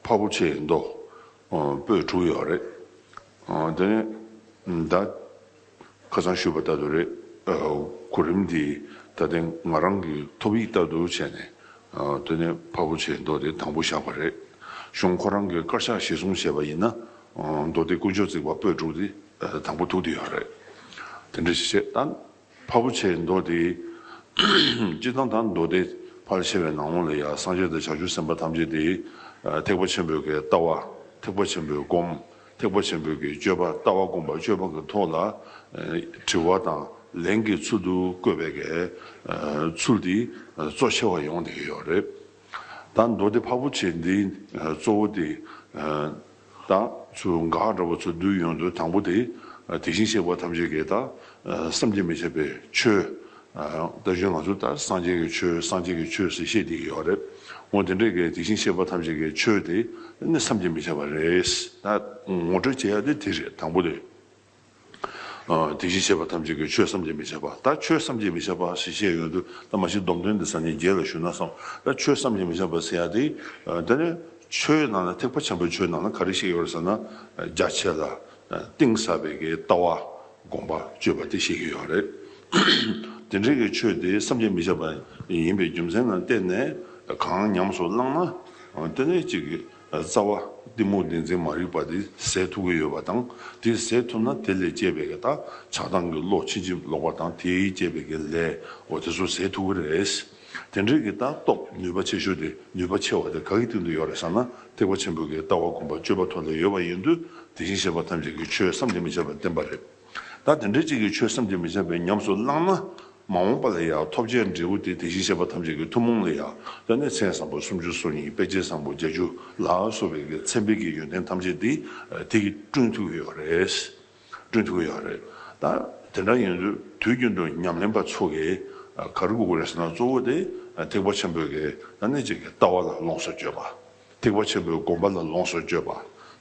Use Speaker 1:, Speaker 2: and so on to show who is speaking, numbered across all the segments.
Speaker 1: ཕ་བོ་ཆེའི་མདོ་སྤོས་དྲུག་ཡོད་རེད། དེ་ནས་ད་ཁ་སང་ཞུས་པ་ལྟར་དུ་རེད། གོ་རིམ་དེ་ད་ལྟའི་ང་རང་གི་ཐོབ་ཡིག་ལྟར་དུ་བྱས་ནས་དེ་ནས་ཕ་བོ་ཆེའི་མདོ་དེ་དང་པོ་བཞག་པ་རེད། གཞུང་ཁོ་རང་གི་དཀར་ཆག་གཞིར་བཟུང་བྱས་པ་ཡིན་ན་མདོ་སྡེ་དཀོན་མཆོག་བརྩེགས་པ་སྤོས་དྲུག་དེ་དང་པོ་ཐུག་དེ་ཡོད་རེད། དེ་འདྲ་ཞིག་བྱས། ཕ་བུ་ཆེ་མདོ་སྡེ། སྤྱི་ཐང་དང་མདོ་སྡེ། ཕར་ཕྱེ་བའི་ནང་ལོགས་ལ་ཡང་སངས་རྒྱས་དང་བྱང་ཆུབ་སེམས་དཔའ་ཐམས་ཅད་དེ། ཐེག་པ་ཆེན་པོའི་གེགས་ལྟ་བ། ཐེག་པ་ཆེན་པོའི་སྒོམ། ཐེག་པ་ཆེན་པོའི་གེགས་སྤྱོད་པ་ལྟ་བ་བསྒོམ་པ་སྤྱོད་པ་གི་ཐོག་ལ། དྲི་བ་དང་ལན་གྱི་ཚུལ་དུ་བཀོད་པའི་གེགས། ཚུལ་འདི་གཙོ་ཆེ་བ་ཡོང་དེ་ཡོད་རེད། ད་མདོ་སྡེ་ཕ་བོ་ཆེ་འདི་གཙོ་བོ་དེ། ད་ཚུར་འགག་འདྲ་བ་ཚུར་བསྡུས་ཡོང་དུས་དང་པོ་དེ། དེ་བཞིན་གཤེགས་པ་ཐམས་ཅད་ཀྱི་ད་བསམ་གྱིས་མི་ཁྱབ་པའི་ཆོས། ད་གཞོན་ང་ཚོ་ད་སངས་རྒྱས་ཀྱི་ཆོས་སངས་རྒྱས་ཀྱི་ཆོས་ཟེར་ཤེས་དེ་ཡོད་རེད། འོ་དེ་འདྲའི་གི་དེ་བཞིན་གཤེགས་པ་ཐམས་ཅད་ཀྱི་ཆོས་དེ་ནི་བསམ་གྱིས་མི་ཁྱབ་པ་རེད། ད་ངོ་སྤྲོད་བྱེད་ཡ་དེ་དེ་རེད་དང་པོ་དེ། དེ་བཞིན་གཤེགས་པ་ཐམས་ཅད་ཀྱིས་ཆོས་བསམ་གྱིས་མི་ཁྱབ་པ་ལྟར་ཁྱོད་བསམ་གྱིས་མི་ཁྱབ་པ་ཞེས་བཤད་ཡོད་དུ་ད་མ་ཤི་སྡོམ་དོན་འདི་སངས་རྒྱས་རྒྱལ་ལ་ཞུས་ན་བསམ་ལ་ཆོས་བསམ་གྱིས་མི་ཁྱབ་པ་ཟེར་ཡ་དེ་དེ་ནི་ཆོས་ནང་ན་ཐེག་པ་ཆེན་པོའི་ཆོས་ནང་ན་ག་རེ་བཤད་ཀྱི་ཡོད་རེད་ཟེར་ན་རྒྱ་ཆེ་ལ་གཏིང་ཟབ་པའི་ཀྱི་ལྟ་བ་དགོངས་པ་སྤྱོད་པ་དེ་བཤད་ཀྱི་ཡོད་རེད། དེ་འདྲའི་ཀྱི་ཆོས་དེ་བསམ་གྱིས་མི་ཁྱབ་པ་ཡིན་པའི་རྒྱུ་མཚན་ནང་བལྟས་ནས་གང་ཉམས་སུ་བླངས་ན་དེ་ནི་གཅིག་རྩ་བ། གཏི་མུག་བདེན་འཛིན་མ་རིག་པ་དེ་ཟད་ཐུབ་ཀྱི་ཡོད་པ་དང་དེ་ཟད་ཐུབ་ན་དེ་ལས་སྐྱེས་པའི་བདག་ཆགས་སྡང་གི་བློ་ཕྱིན་ཅི་ལོག་པ་དང་དེས་བསྐྱེད་པའི་དགེ་ལས་འོ་དེ་ཚོ་ཟད་ཐུབ་ཀྱི་རེད། དེ་འདྲའི་གི་ལྟ་རྟོགས་ནུས་པ་ཆེ་ཤོས་དེ་ནུས་པ་ཆེ་བ་དེ་ག་གི་སྟེང་དུ་ཡོད་རེད་བསམ་ན་ཐེག་པ་ཆེན་པོའི་གི་ལྟ་བ་གོམས་པ་སྤྱོད་པ་ཐོག་ལ་ཡོད་པ་ཡིན་དུས་དེ་བཞིན་གཤེགས་པ་ཐམས་ཅད་ཀྱི་ཆོས་སམ་དེ་མི་བྱེད་པར་བསྟན་པ་རེད། ད་དེ་འདྲའི་གཅིག་གིས་ཆོས་བསམ་གྱིས་མི་ཁྱབ་པའི་ཉམས་སུ་བླངས་ན། མ་འོངས་པ་ལ་ཡང་ཐོབ་བྱའི་འབྲས་བུ་དེ་དེ་བཞིན་གཤེགས་པ་ཐམས་ཅད་ཀྱི་ཐུན་མོང་ལ་ཡང་ལྟོས་ནས་མཚན་བཟང་པོ་སུམ་ཅུ་སོ་གཉིས་དཔེ་བྱད་བཟང་པོ་བརྒྱད་ཅུ་ལ་སོགས་པའི་མཚན་དཔེ་གྱི་ཡོན་ཏན་ཐམས་ཅད་དེ་དེ་གིས་བསྐྲུན་ཐུབ་ཀྱི་ཡོད་རེད། བསྐྲུན་ཐུབ་ཀྱི་ཡོད་རེད། ད་དེ་འདྲ་ཡིན་དུས་དུས་རྒྱུན་དུ་ཉམས་ལེན་པ་ཚོ་གིས་ག་རེ་བསྒུག་དགོས་རེད་ཟེར་ན་གཙོ་བོ་དེ་ཐེག་པ་ཆེན་པོའི་གདམས་ངག་ཅིག་གི་ལྟ་བ་ལ་ལོངས་སུ་སྤྱོད་པ། ཐེག་པ་ཆེན་པོའི་སྒོམ་པ་ལ་ལོངས་སུ་སྤྱོད་པ།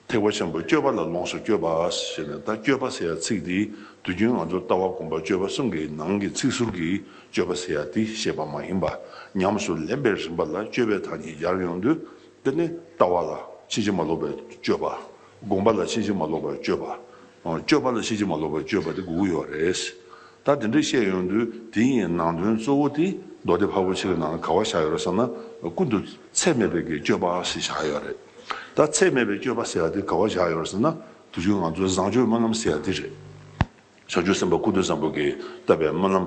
Speaker 1: ཐེག་པ་ཆེན་པོའི་སྤྱོད་པ་ལ་ལོངས་སུ་སྤྱོད་པ་ཞེས་ནས་ད་སྤྱོད་པ་ཟེར་ཡ་ཚིག་འདིས་དུས་རྒྱུན་ང་ཚོར་ལྟ་བ་སྒོམ་པ་སྤྱོད་པ་གསུམ་གྱི་ནང་གི་ཚིག་ཟུར་གྱིས་སྤྱོད་པ་ཟེར་ཡ་འདི་བཤད་པ་མ་ཡིན་པར་ཉམས་སུ་ལེན་པའི་རིམ་པ་ལ་སྤྱོད་པའི་དག་ཉིད་སྦྱར་ཡོང་དུས་འདི་ནི་ལྟ་བ་ལ་ཕྱིན་ཅི་མ་ལོག་པའི་སྤྱོད་པ། སྒོམ་པ་ལ་ཕྱིན་ཅི་མ་ལོག་པའི་སྤྱོད་པ། སྤྱོད་པ་ལ་ཤེས་ཀྱི་མ་ལོག་པའི་སྤྱོད་པ་དེ་དགུ་དགུ་ཡོད་རེད། ད་དེ་འདྲ་བཤད་ཡོང་དུས་དེ་ཡི་ནང་དོན་གཙོ་བོ་དེ་མདོ་སྡེ་ཕ་བོ་ཆེ་གི་ནང་ལ་ག་བ་བཞག་ཡོད་རེད་བསམ་ན་ཀུན་ཏུ་ཚད་མེད་པའི་གི་སྤྱོད་པ་ཞིག་བཞག་ཡོད་རེད། ད་ཚད་མེད་པའི་སྤྱོད་པ་ཟེར་བ་དེ་ག་བ་བཞག་ཡོད་རེད་བསམ་ན་དེ་བཞིན་ང་ཚོའི་བཟང་སྤྱོད་སྨོན་ལམ་ཟེར་བ་དེ་རེད། བྱང་ཆུབ་སེམས་དཔའ་ཀུན་ཏུ་བཟང་པོ་གིས་བཏབ་པའི་སྨོན་ལམ།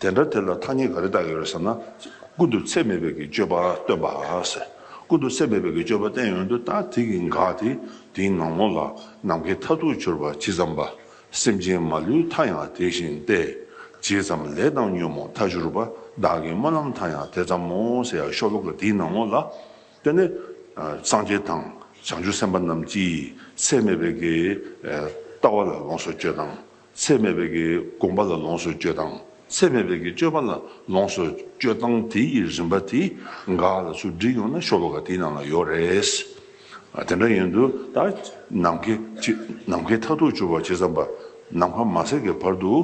Speaker 1: དེ་འདྲ་དེ་ལ་ཐ་སྙད་ག་རེ་བཏགས་ཡོད་རེད་ཟེར་ན། ཀུན་ཏུ་ཚད་མེད་པའི་གི་སྤྱོད་པ་སྟོན་པ། ཀུན་ཏུ་ཚད་མེད་པའི་གི་སྤྱོད་པ་བསྟན་ཡོད་འདུག་ད་དེ་གི་འགག་དེ་དེའི་ནང་ངོ་ལ་ནམ་མཁའི་མཐའ་ཐུག་གྱུར་པ་ཇི་ཙམ་པ། སེམས་ཅན་མ་ལུས་མཐའ་ཡང་དེ་བཞིན་ཏེ། ཇི་ཙམ་ལས་བཏང་ཉོན་མོངས་མཐའ་གྱུར་པ་བདག་གི་སྨོན་ལམ་མཐའ་ཡང་དེ་ཙམ་མོ་ཟེར་ཡག་ཤོ་ལོ་ཀ་དེའི་ནང་ངོ་ལ། དེ་ནི་སངས་རྒྱས་དང་བྱང་ཆུབ་སེམས་དཔའ་རྣམས་ཀྱིས་ཚད་མེད་པའི་གི་ལྟ་བ་ལ་ལོངས་སུ་སྤྱོད་དང་ཚད་མེད་པའི་གྱི་བསྒོམ་པ་ལ་ལོངས་སུ་སྤྱོད་དང་ཚད་མེད་པའི་གྱི་སྤྱོད་པ་ལ་ལོངས་སུ་སྤྱོད་དང་དེ་ཡི་རིམ་པ་དེ་འགའ་ལ་ཆུ་འདྲིལ་ཡོང་ན་ཤོ་བ་འགའ་དེའི་ནང་ལ་ཡོད་རེས་དེ་འདྲ་ཡིན་དུ་ད་ནམ་མཁའི་ནམ་མཁའི་མཐའ་ཐུག་གྱུར་བ་ཇི་ཙམ་པ་ནམ་མཁའ་མ་ཟད་ཀྱི་བར་དུ་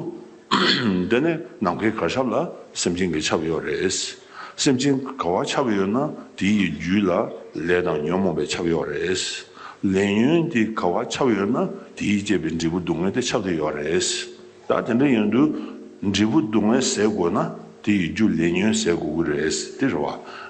Speaker 1: འདི་ནས་ནམ་མཁའི་གར་ཆབ་ལ་སེམས་ཅན་གྱི་ཆབ་ཡོད་རེས། སེམས་ཅན་ག་བ་ཆགས་ཡོད་ན་དེ་ཡི་རྒྱུད་ལ་ལས་དང་ཉོན་མོངས་པའི་ཆགས་ཡོད་རེད། ལས་ཉོན་དེ་ག་བ་ཆགས་ཡོད་ན་དེ་ཡིས་བསྐྱེད་པའི་འབྲས་བུ་སྡུག་བསྔལ་དེ་ཆགས་ཀྱི་ཡོད་རེད། ད་དེ་འདྲ་ཡོན་དུ་འབྲས་བུ་སྡུག་བསྔལ་ཟད་དགོས་ན་དེ་ཡི་རྒྱུ་ལས་ཉོན་ཟད་དགོས་ཀྱི་རེད་དེ་རེད་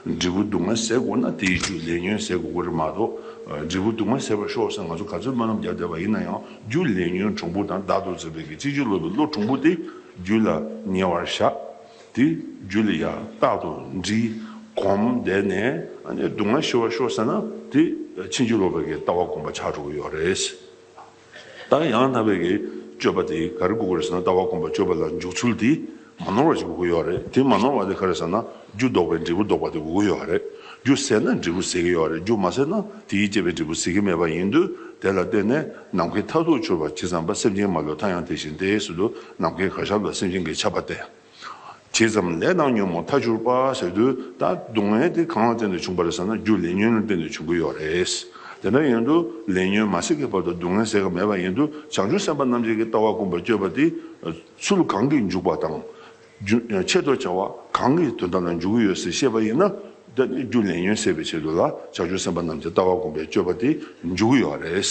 Speaker 1: བ། འབྲས་བུ་སྡུག་བསྔལ་ཟད་དགོས་ན་དེ་ཡི་རྒྱུ་ལས་ཉོན་ཟད་དགོས་ཀྱི་རེད་མ་གཏོགས། འབྲས་བུ་སྡུག་བསྔལ་ཟད་པར་ཤོག་ཟེར་ང་ཚོ་ག་ཚོད་མ་རྣམས་རྒྱབ་བསྡད་པ་ཡིན་ན་ཡང་རྒྱུ་ལས་ཉོན་གྲུང་པོ་དང་བདག་ཏུ་འཛིན་པའི་གཅིག་ཅིག་སློབ་པའི་བློ་གྲུང་པོ་དེ་རྒྱུད་ལ་ཉེ་བར་བཞག། དེ་རྒྱུད་ལ་ཡང་རྟག་ཏུ་འདྲི། གོམས་བསྡད་ནས་སྡུག་བསྔལ་ཞི་བར་ཤོག་ཟེར་ན་དེ་ཕྱིན་ཅི་ལོག་པའི་ལྟ་བ་སྒོམ་པ་ཆགས་འགྲོ་གི་ཡོད་རེད། ད་ཡང་དག་པའི་སྤྱོད་པ་དེ་ག་རེ་དགོས་ཀྱི་རེད་ཟེར་ན་ལྟ་བ་སྒོམ་པ་སྤྱོད་པ་ལ་འཇུག་ཚུལ་དེ་མ་ནོར་བ་ཞིག་དགོས་ཀྱི་ཡོད་རེད། དེ་མ་ནོར་བ་དེ་ག་རེ་ཟེར་ན་རྒྱུ་ལྡོག་པའི་འབྲས་བུ་ལྡོག་པ་དེ་དགོས་ཀྱི་ཡོད་རེད། རྒྱུ་ཟད་ན་འབྲས་བུ་ཟད་ཀྱི་ཡོད་རེད་རྒྱུ་མ་ཟད་ན་དེའི་བསྐྱེད་པའི་འབྲས་བུ་ཟད་ཀྱི་མེད་པ་ཡིན་དུས་དེ་ལ་བརྟེན་ནས། ནམ་མཁའི་མཐར་ཐུག་འཆོལ་བར་བྱེད་ཙམ་པ་སེམས་ཅན་མ་ལུས་མཐའ་ཡང་དེ་བཞིན་ཏེ་ཟེར་དུས་ནམ་མཁའི་གར་ཞབས་ལ་སེམས་ཅན་གྱི་ཆགས་པ་སྟེ། བྱེད་ཙམ་ལས་སྣང་ཉོན་མོངས་མཐའ་གྱུར་པ་ཟེར་དུས་ད་སྡུག་བསྔལ་དེ་གང་ལ་བརྟེན་ནས་བྱུང་བ་རེད་ཟེར་ན་རྒྱུ་ལས་ཉོན་ལ་བརྟེན་ནས་བྱུང་གི་ཡོད་རེད། དེ་འདྲ་ཡིན་དུས་ལས་ཉོན་མ་སྲིད་ཀྱི་བར་དུ་སྡུག་བསྔལ་ཟེར་ག་མེད་པ་ཡིན་དུས་བྱང་ཆུབ་སེམས་དཔའ་རྣམ་འབྱེད་ཀྱི་ལྟ་བ་དཀོན་པར་སྤྱོད་པ་དེ་ཚུལ་གང་གིས་འཇུག་པ་དང། ཆེད་དུ་བྱ་བ་གང་གི་དོན་དམ་ལ་འཇུག་གི་ཡོད་ཟེར་ཤེས་པ་ཡིན་ན། རྒྱུ་ལས་ཉོན་སེལ་བའི་ཆེད་དུ་ལ་བྱ་ཆུང་སེམས་དཔའ་རྣམས་ཀྱི་ལྟ་བ་སྒོམ་པའི་སྤྱོད་པ་དེ་འཇུག་གི་ཡོད་པ་རེད།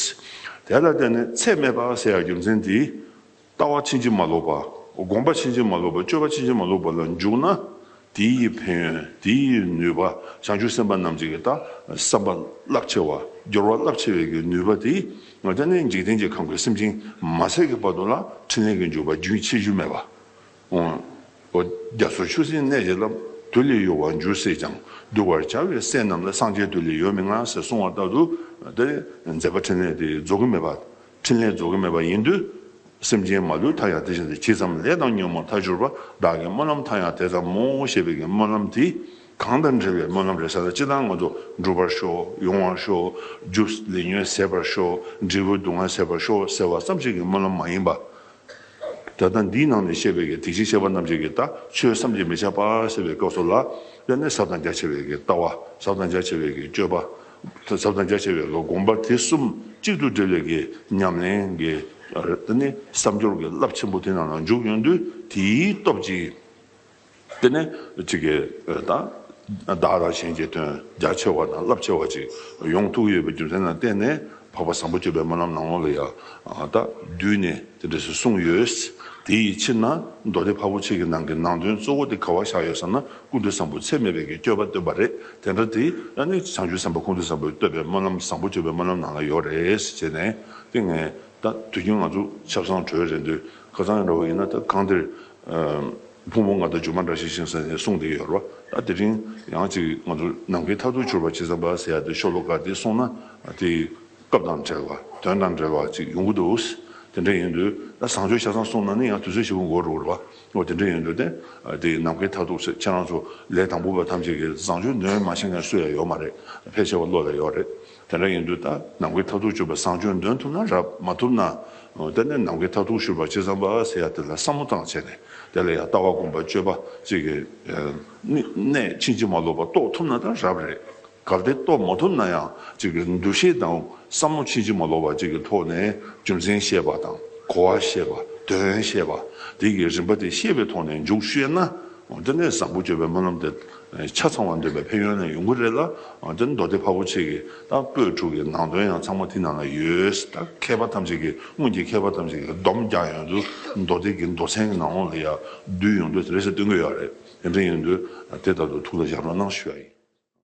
Speaker 1: དེ་ལ་བརྟེན་ནས་ཚད་མེད་པ་ཟེར་ཡང་རྒྱུ་མཚན་དེས། ལྟ་བ་ཕྱིན་ཅི་མ་ལོག་པ། སྒོམ་པ་ཕྱིན་ཅི་མ་ལོག་པ་སྤྱོད་པ་ཕྱིན་ཅི་མ་ལོག་པ་ལ་འཇུག་ན། དེ་ཡི་ཕན་ཡོན་དེ་ཡི་ནུས་པ་བྱང་ཆུབ་སེམས་དཔའ་རྣམས་ཀྱི་ལྟ་བསམ་པ་རླབས་ཆེ་བ་སྦྱོར་བ་རླབས་ཆེ་བའི་གི་ནུས་པ་དེས་ལྟེ་གནས་འཇིག་རྟེན་གྱི་ཁམས་ཀྱི་སེམས་ཅན་མ་ཚད་ཀྱི་བར་དུ་ལ་ཕྲིན་ལས་ཀྱི་འཇུག་པ་རྒྱུན་ཆད་རྒྱུ་མེད་པ་འོ། རྒྱ་མཚོ་ཆུ་སྲིན་གནས་ཀྱི་རླབས། དུས་ལས་གཡོ་བར་འགྱུར་སྲིད་ཀྱང། གདུལ་བར་བྱ་བའི་སྲས་རྣམས་ལ་སངས་རྒྱས་དུས་ལས་ཡོལ་མི་མངའ་ཟེར་གསུང་བ་ལྟར་དུ། དེ་མཛད་པ་ཕྲིན་ལས་དེ་རྫོགས་ཀྱི་མེད་པ། ཕྲིན་ལས་རྫོགས་ཀྱི་མེད་པ་ཡིན་དུས། སེམས་ཅན་མ་ལུས་མཐའ་ཡང་དེ་བཞིན་དུ་གྱིས་ཙམ་ལས་དང་ཉོན་མོངས་མཐའ་གྱུར་པ་བདག་གི་སྨོན་ལམ་མཐའ་ཡང་དེ་ཙམ་མོ་ཞེས་པའི་གི་སྨོན་ལམ་དེ། གང་དང་འབྲེལ་བའི་སྨོན་ལམ་རེ་ས་ལ་ཅི་དང་ང་ཚོ་འགྲུབ་པར་ཤོག་ཡོང་བར་ཤོག་རྒྱུ་ལས་ཉོན་ཟད་པར་ཤོག་འབྲས་བུ་སྡུག་བསྔལ་ཟད་པར་ཤོག་ཟེར་བ་ཙམ་ཞིག་གི་སྨོན་ལམ་མ་ཡིན་པ། ད་ལྟ་འདིའི་ནང་ནས་བཤད་པའི་གེགས་དེ་བཞིན་གཤེགས་པ་རྣམས་ཀྱི་གེགས་དག་ཆོས་བསམ་གྱིས་མི་ཁྱབ་པ་ཟེར་བའི་སྐབས་སོགས་ལ་དབྱར་གནས་ཟབ་དང་རྒྱ་ཆེ་བའི་གེགས་ལྟ་བ་ཟབ་དང་རྒྱ་ཆེ་བའི་གེགས་སྤྱོད་པ་ཟབ་དང་རྒྱ་ཆེ་བའི་གེགས་སྒོམ་པ་དེ་གསུམ་གཅིག་ཏུ་སྒྲིལ་བའི་གེགས་ཉམས་ལེན་གྱི་བསམ་སྦྱོར་གྱི་རླབས་ཆེན་པོ་དེ་རྣམས་ལ་འཇུག་ཡོང་དུས་དེའི་སྟོབས་ཀྱིས། དེ་ནས་ཅི་ཀའི་བདག། བདག་དང་གཞན་གྱི་དོན་རྒྱ་ཆེ་བ་དང་རླབས་ཆེ་བ་ཅིག་ཡོངས་ཐུགས་ཡོད་པའི་རྒྱུ་མཚན་ལ་བརྟེན་ནས་འཕགས་པ་བཟང་པོ་སྤྱོད་པའི་སྨོན་ལམ་ནང་ལོགས་ལ་ཡང་དག་བསྡུས་ནས་དེ་འབྲས་སུ་གསུངས་ཡོད། དེ་ཡི་ཕྱིར་ན་མདོ་སྡེ་འཕགས་པོ་ཆེ་གི་ནང་གི་ནང་དོན་གཙོ་བོ་དེ་ག་བ་བཞག་ཡོད་བསམ་ན་ཀུན་འདུས་བཟང་པོ་ཚད་མེད་པའི་གི་སྤྱོད་པ་སྟོན་པ་རེད་དེ་འདྲ་དེ་ཡང་ནི་བྱང་ཆུབ་སེམས་དཔའ་ཀུན་འདུས་བཟང་པོས་བསྟོད་པའི་སྨོན་ལམ་བཟང་པོ་སྤྱོད་པའི་སྨོན་ལམ་ནང་ལ་ཡོད་རེད་ཅེས་ནས་ཏིང་ངེ་ད་དུས་རྒྱུན་ང་ཚོ་ཆབ་གསང་གྲོལ་རེད་འདོད་ཁ་ཚང་ཡང་འདྲ་བོ་ཡིན་ན་ད་གང་འདིར་ཕུང་བོ་ང་དང་སྒྱུ་མ་འདྲ་ཞིག་བཞེངས་ས་ནས་གསུངས་དེ་ཡོད་རོ། ད་དེ་རིང་ཡང་ཅིག་ང་ཚོ་ནམ་མཁའི་མཐའ་ཐུག་འཕྱུར་བ་བྱེད་ས་འབའ་ས་ཡ་དེ་ཤོ་ལོ་ཀ་དེ་གསུངས་ན་དེ་སྐབས་དང་བྲལ་བ་དོན་དང་བྲལ་བ་ཅིག་ཡོང་གི་འདུག་དེ་འདྲ་ཡིན་དུས་ད་བཟང་སྤྱོད་ཆ་ཚང་གསུངས་ན་ནི་ཡང་དུས་ཚོད་ཞིག་འགོར་འགྲོ་གི་རེད་བ། དེ་འདྲ་ཡིན་དུས་དེ་དེ་ནམ་མཁའི་མཐའ་ཐུག་ཚེ་ཁྱེད་རང་ཚོ་ལས་དང་པོ་པ་ཐམས་ཅད་ཀྱིས་བཟང་སྤྱོད་ནོན་མ་བྱེད་མཁན་སུ་ཡང་ཡོད་མ་རེད་ཕལ་ཆེ་བ་བློ་ལ་ཡོད་རེད། དེ་འདྲ་ཡིན་དུས་ད་ནམ་མཁའི་མཐར་ཐུག་སྤྱོད་པ་བཟང་སྤྱོད་འདོན་ཐུབ་ན་རབ་མ་ཐུབ་ན་དེ་ནས་ནམ་མཁའི་མཐར་ཐུག་ཤོད་པ་ཅི་ཙམ་པ་ཟེར་ཡ་དེ་ལ་བསམ་བློ་བཏང་བྱས་ནས་དེ་ལ་ཡང་ལྟ་བ་སྒོམ་པ་སྤྱོད་པ་ཅིག་གིས་ནས་ཕྱིན་ཅི་མ་ལོག་པ་རྟོགས་ཐུབ་ན་ད་རབ་རེད་གལ་ཏེ་རྟོགས་མ་ཐུབ་ན་ཡང་ཅིག་གིས་འདུ་ཤེས་དང་བསམ་བློ་ཕྱིན་ཅི་མ་ལོག་པ་ཅིག་གི་ཐོག་ནས་རྒྱུ་མཚན་ཤེས་པ་དང་གོ་བ་ཤེས་པ་དོན་ཤེས་པ་དེ་གིས་རིམ་པ་དེ་ཤེས་པའི་ཐོག་ནས་འཇུག་ཤེས་ན་དེ་ནས་བཟང་པོ་སྤྱོད་པའི་སྨོན་ལམ་དེ་ཆ་ཚང་བ་འདོད་པའི་ཕན་ཡོན་ནི་ཡོང་གི་རེད་ལ་དེར་མདོ་སྡེ་འཕགས་པོ་ཆེ་གི་ད་པོད་དྲུག་གི་ནང་དོན་ཡང་ཚང་མ་དེ་ནང་ན་ཡོད་ད་མཁས་པ་ཐམས་ཅད་ཀྱི་སྔོན་གྱི་མཁས་པ་ཐམས་ཅད་ཀྱི་སྡོམ་རྒྱག་ཡོང་དུས་མདོ་སྡེ་གི་མདོ་ཚན་གྱི་ནང་ལོགས་ལ་ཡང་བསྡུས་ཡོང་དུས་དེ་རེས་སྟོན་གི་ཡོད་རེད་དེ་འདྲ་ཡོང་དུས་དེ་ལྟར་དུ་ཐུགས་ལ་བཞག་རོགས་གནང་ཞུ་ཡ་ཡིན།